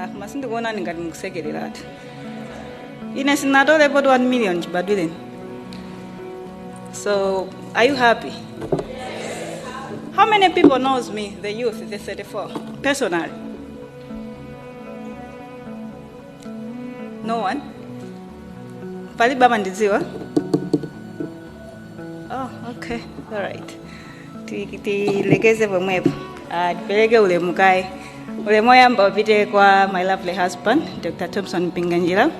Ah, koma sindikuonani ngati mukusekereratu ine sindinatolepo 1 million chibadwireni so are you happy how many people knows me the youth the 34 personally no one palibe amandidziwa oh okay all right Ti- tilekeze pomwepo Ah, tipereke ulemu kaye ulemu oyamba upite kwa my lovely husband dr thompson mpinganjira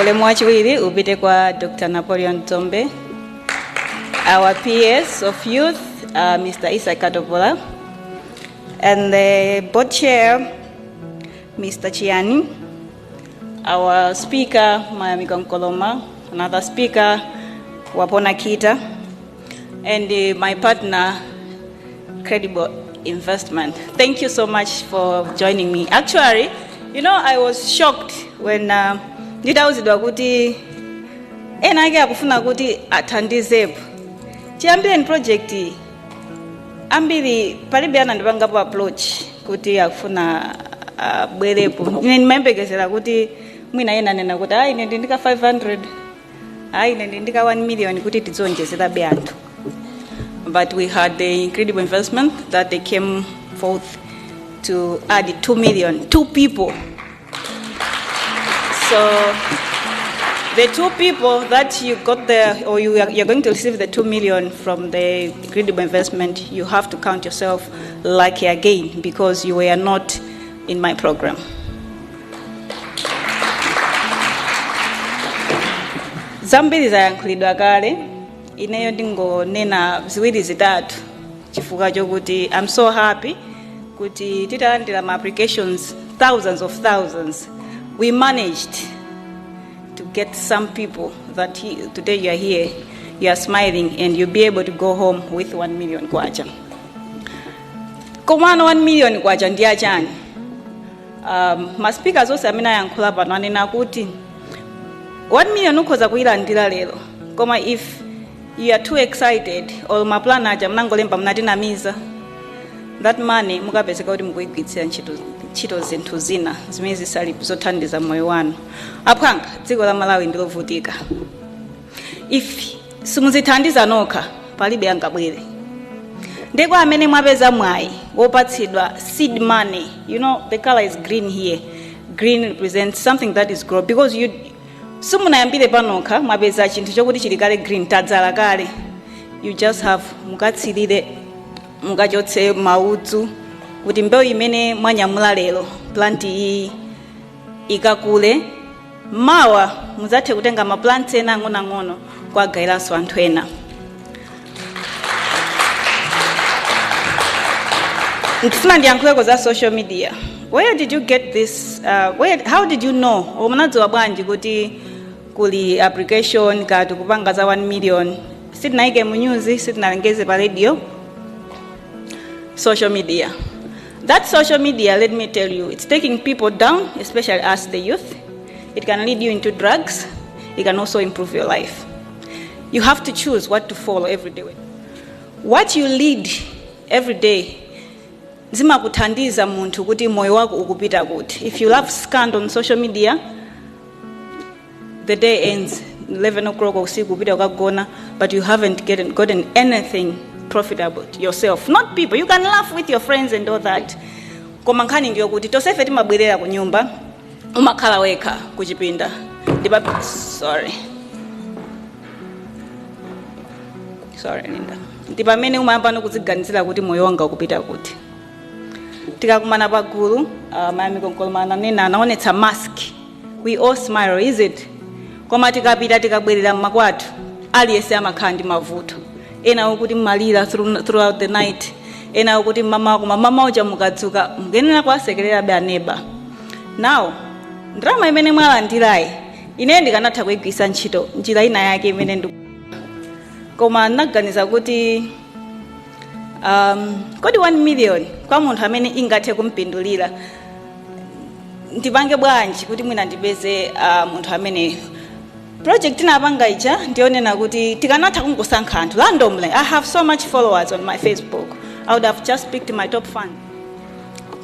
ulemu wachiwiri upite kwa dr napoleon dzombe our ps of youth uh, mr isa katopola and the board chair mr chiani Our speaker, Mayamiko Nkoloma, another speaker, Wapona Kita, and uh, my partner, Credible Investment. Thank you so much for joining me. Actually, you know, I was shocked when uh, nditauzidwa kuti ena ake akufuna kuti athandizepo chiyambireni project iyi ambiri palibe anandipangapo approach kuti akufuna abwerepo ine ndimayembekezera kuti mwina ena anena kuti ayi ine ndiyika 500 ayi ine ndiyika 1 million kuti tidzionjezerabe anthu but we had the credible investment that they came forth to add 2 million two people So the two people that you got the, or you are, you're going to receive the two million from the credible investment, you have to count yourself lucky again because you were not in my program. zambiri zayankhulidwa kale ineyo ndingonena ziwiri zitatu chifukwa chokuti i'm so happy kuti titalandira ma applications thousands of thousands we managed to get some people that he, today you are here you are smiling and you'll be able to go home with 1 million kwacha komano 1 million kwacha ndi yachani um, maspeakers onse amene ayankhula pano anena kuti 1 million ukhoza kuyilandira lero koma if You are too excited or ma plan aja munangolemba munatinamiza that money mukapezeka kuti mukuigwiritsira ntchito zinthu zina zimene zisili zothandiza moyo wanu aphwanga dziko la malawi ndilovutika if simuzithandiza nokha palibe angabwere nde kwa amene mwapeza mwayi wopatsidwa seed money you know the color is green here green represents something that is grow because you simunayambire panokha mwapeza chinthu chokuti chili kale green tadzala kale you just have mukatsirire mukachotse maudzu kuti mbewu imene mwanyamula lero plant iyi ikakule mawa muzathe kutenga maplant ena ang'onoang'ono kuwagayiranso anthu ena ndifuna ndiyankhuleko za social media where did you get this uh, where, how did you know or munadziwa bwanji kuti kuli application kati kupanga za 1 million sitinayike mu news sitinalengeze pa radio social media that social media let me tell you it's taking people down especially us the youth it can lead you into drugs it can also improve your life You have to choose what to follow every day. What you read every day zimakuthandiza munthu kuti moyo wako ukupita kuti. If you love scandal on social media, the day ends 11 o'clock usiku kupita ukagona but you haven't gotten, gotten anything profitable to yourself not people you can laugh with your friends and all that koma nkhani ndiyo kuti tonsefe timabwerera ku nyumba umakhala wekha kuchipinda ndipa sorry sorry linda ndi pamene umayambano kudziganizira kuti moyo wanga ukupita kuti tikakumana pagulu uh, mayami Nkoloma ananena anaonetsa mask we all smile is it koma tikapita tikabwerera mmakwathu aliyense amakhala ndi mavuto ena akuti mmalira through- throughout the night ena akuti mmamawa koma mmamawa uja mukadzuka mukuyenera kuwasekererabe aneba now ndalama imene mwalandirayi ineyo ndikanatha kuyigwiritsa ntchito njira ina yake imene ndi koma ndinaganiza kuti um, kodi 1 million kwa munthu amene ingathe kumpindulira ndipange bwanji kuti mwina ndipeze uh, munthu amene Project tinapanga ija ndiyonena kuti tikanatha kungosankha anthu randomly. I have so much followers on my Facebook. I would have just picked my top fan.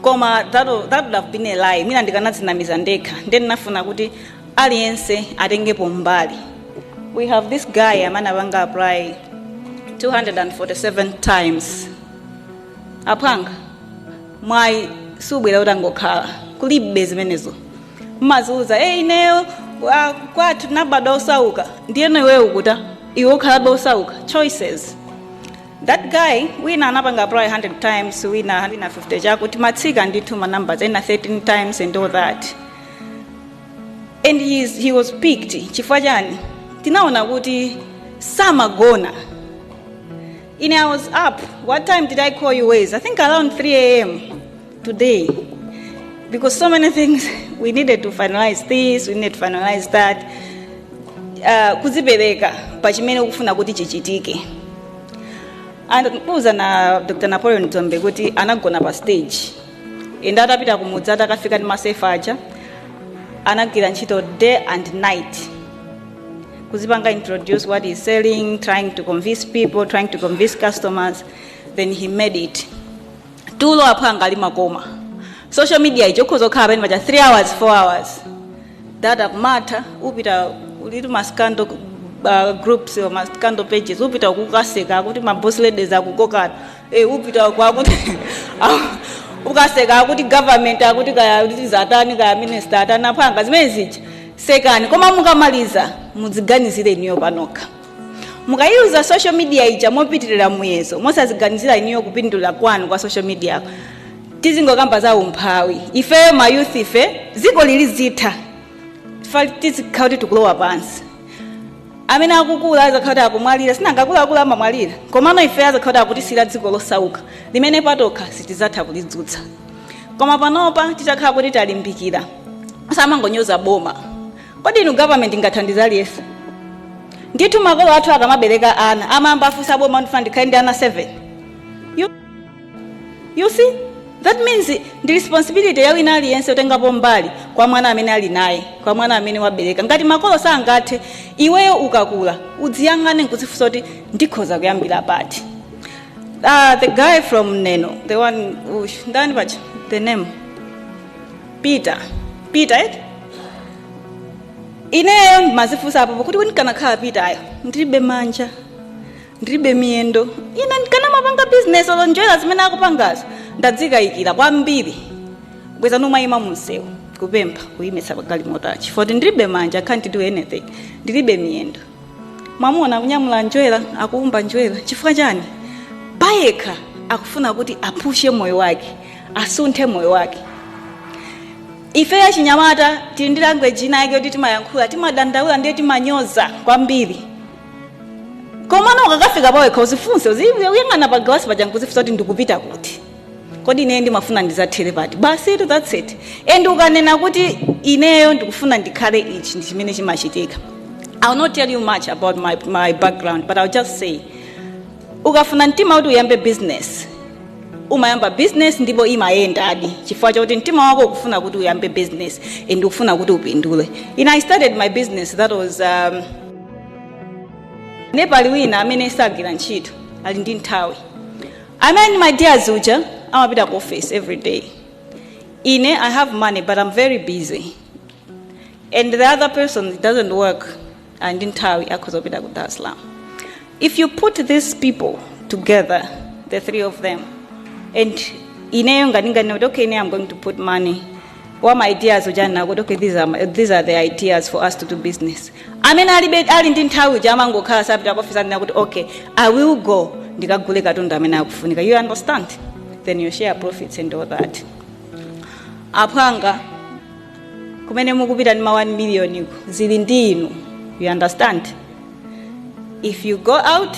Koma that, would- that would have been a lie. Mwina ndikanadzinamiza ndekha. Ndiye ndinafuna kuti aliyense atengepo mbali. We have this guy amene apanga apply 247 times. Aphwanga mwayi subwera utangokhala kulibe zimenezo. mmadziuza e ineyo ah, kwathu ndinabadwa osauka ndiyeno iweyo ukuta iwe ukhalabe osauka choices that guy wina anapanga apply 100 times wina wina 50 choncho timatsika ndithu ma numbers ena 13 times and all that and he, is, he was picked chifukwa chani tinaona kuti samagona ine i was up what time did i call you ways i think around 3 am Today, because so many things we needed to finalize this, we needed to finalize that. Uh, kudzipereka pa chimene ukufuna kuti chichitike. Amkatiuza a Dr. Napoleon Dzombe kuti anagona pa stage. And atapita kumudzi atakafika ndi masefa aja anagwira ntchito day and night kudzipanga introduce what he's selling trying to convince people trying to convince customers then he made it tulo aphwanga ali makoma social media ija ukhoza kukhala pamene paja 3 hours 4 hours data kumatha upita ulitu ma scandal uh, groups or ma scandal pages upita kukaseka kuti maboss ladies akukokana eh upita kwakuti ukaseka kuti government akuti kaya kuti zatani kaya minister atani aphwanga zimene zija sekani koma mukamaliza mudziganizire inuyo panokha mukayiuza social media ija mopitirira muyezo mosaziganizira inuyo kupindula kwanu kwa social media tizingokamba za umphawi ifeyo mayouth ife dziko lili zitha tizikhala kuti tikulowa pansi amene akukula azakhala kuti akumwalira si nanga akuluakulu amamwalira komano ife azakhala kuti akutisiyira dziko losauka limene patokha sitizatha kulidzutsa koma panopa titakhala kuti talimbikira samangonyoza boma Kodi inu government ingathandize aliyense? Ndithu makolo athu akamabereka ana amayamba afunsa boma ndifuna ndikhale ndi ana 7. You, you see? That means ndi responsibility ya wina aliyense yotengapo mbali kwa mwana amene ali naye, kwa mwana amene wabereka. Ngati makolo sangathe, iweyo ukakula udziyang'ane nkudzifunsa kuti ndikhoza kuyambira pati. Uh, the guy from Neno, the one, ush, ndani pacha, the name. Peter Peter eti ineyo nimazifunsa apopo kuti kuti ndikanakhala Peter-yo ndilibe manja ndilibe miyendo ine ndikanamapanga bizinesi olo njerwa zimene akupangazo ndadzikayikira kwambiri bwenzi nimayima munsewu kupempha kuyimitsa magalimoto achi foti ndilibe manja can't do anything ndilibe miyendo mwamuna akunyamula njerwa akuumba njerwa chifukwa chani payekha akufuna kuti aphushe moyo wake asunthe moyo wake ife achinyamata tili ndi language ina yake yoti timayankhula timadandaula ndiye timanyoza kwambiri komano ukakafika pawekha uzifunse uzi- uyang'ana pagalasi paja nkuzifunsa kuti ndikupita kuti kodi ineyo ndimafuna ndizathere pati basitu that's it and ukanena kuti ineyo ndikufuna ndikhale ichi ndi chimene chimachitika ill not tell you much about my, my background but ill just say ukafuna mtima kuti uyambe business umayamba business ndipo imayendadi chifukwa chakuti mtima wako ukufuna kuti uyambe business and ukufuna kuti upindule in i started my business that was um, ndiye pali wina amene sagwira ntchito ali ndi nthawi Amene ndi my dear uja amapita ku office every day. Ine I have money but I'm very busy. And the other person doesn't work ali ndi nthawi akhoza kupita ku Dar es Salaam. If you put these people together, the three of them, and ineyo ngati ngati okay, ine I'm going to put money wa ma ideas uja nanena kuti okay these are, my, these are the ideas for us to do business amene alibe ali ndi nthawi uja amangokhala sapita ku office nanena kuti okay i will go ndikagule katundu amene akufunika you understand then you share profits and all that aphwanga kumene mukupita ndi ma 1 million ko zili ndi inu you understand if you go out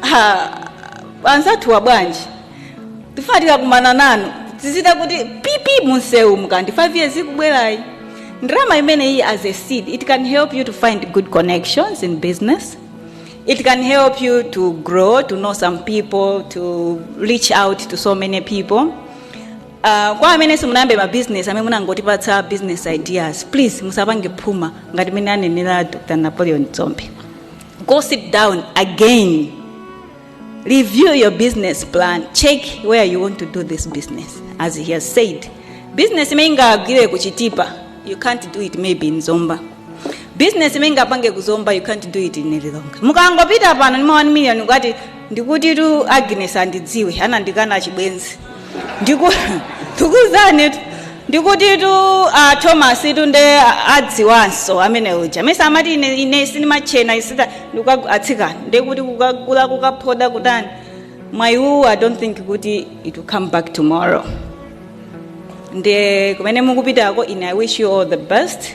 Ha, anzathuwa bwanji tifuna tikakumana nanu tizidzati kuti pipi mumsewu mu kandi 5 years ikubwerayi ndalama imeneyi as a seed it can help you to find good connections in business it can help you to grow to know some people to reach out to so many people Uh, kwa amene simunayambe ma business amene munangotipatsa business ideas please musapange phuma ngati mene anenera dr napoleon dzombe go sit down again review your business plan check where you want to do this business as he has said business imene ingagwire kuchitipa you can't do it maybe in zomba business imene ingapange kuzomba you can't do it in lilongwe mukangopita pano ndi ma 1 million ukati ndikutitu agnes andidziwe anandikana chibwenzi Ndiku- ndikuzani tu- ndikutitu a thomas tu nde adziwanso amene uja mesa amati ine, ine sindimatchena isiya ndikuka- atsikana ndekuti kukagula kukaphoda kutani mwayiwu, i don't think kuti it will come back tomorrow ndi kumene mukupitako ine i wish you all the best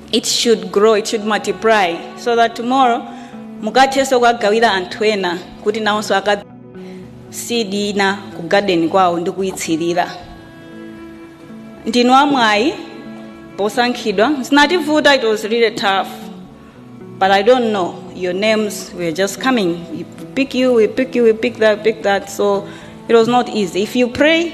it should grow it should multiply so that tomorrow mukathenso kukagawira anthu ena kuti nawonso aka seed ina ku garden kwawo ndi kuyitsirira ndinu amwayi posankhidwa zinativuta it was really tough but i don't know your names were just coming we pick you we pick you we pick that pick that so it was not easy if you pray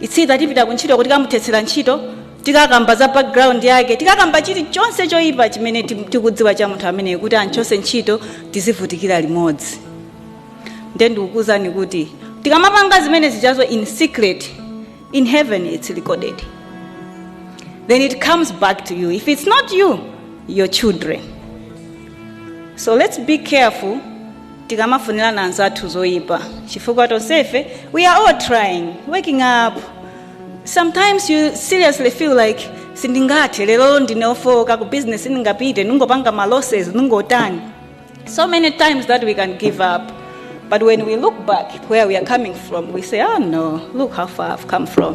it's either tipita kuntchito kuti tikamuthetsera ntchito tikakamba za background yake tikakamba chilichonse choyipa chimene ti- tikudziwa cha munthu ameneyo kuti amchotse ntchito tizivutikira limodzi nde ndikukuuzani kuti tikamapanga zimenezi zijazo in secret in heaven it's recorded then it comes back to you if it's not you your children so let's be careful tikamafunirana anzathu zoipa chifukwa tonsefe we are all trying waking up sometimes you seriously feel like sindingathe lero ndine ofowoka ku business ndingapite ndingopanga ma losses ndingotani so many times that we can give up but when we look back where we are coming from we say oh no look how far i've come from